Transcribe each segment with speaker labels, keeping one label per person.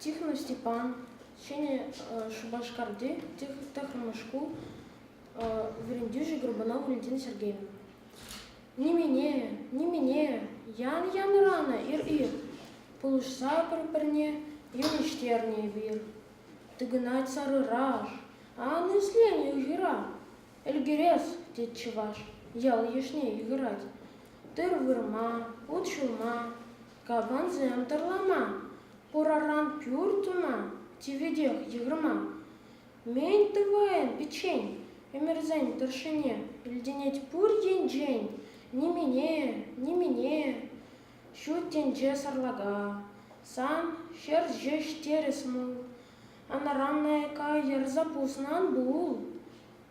Speaker 1: Тихвин Степан, Ҫӗнӗ Шупашкарти тӑхӑрмӗш шкул вӗрентӳҫи Горбунов Валентина Сергеевна. Нимене, нимене, ян янӑранӑ ир-ир, пулӑшса пӗр-пӗрне йӑнӑҫтернӗ эпир. Тӑкӑнать сарӑраш, ан ислене ыйхӑра. Ӗлкӗрес, тет чӑваш, ял-йышне йыхӑрать. Тыр вырма, ут ҫулма, Капансем тӑрламан, пураран пӳр туман, тиветех йыхӑрман. Мӗн тӑвайӑн пӗччен ӗмӗрсен тӑршшӗне? Илтӗнет пур енчен нимене, нимене ҫут тӗнче сарлака. Сан ҫӗр ҫеҫ терӗс мул, анранайка йӑрса пуснан пул.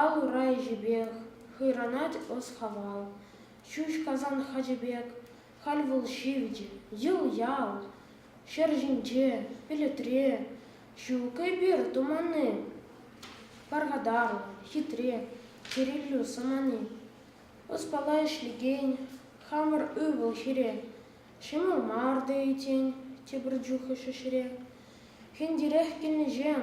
Speaker 1: ал ура ӗҫӗпех хӑйранать ӑс-хакал. Ҫӳҫ-касан хачӑ пек халь вӑл ҫивӗч. Йӑл-ял ҫӗр ҫинче, пӗлӗтре ҫук эпир туманни. Пархатарлӑ, хитре, чӗриллӳ самани. Ӑспала ӗҫлекен хамӑр ывӑл-хӗре. Ҫӑмӑл мар тейӗн тепӗр чух ӗҫ ӗҫре. Хӗнтерех килнӗҫем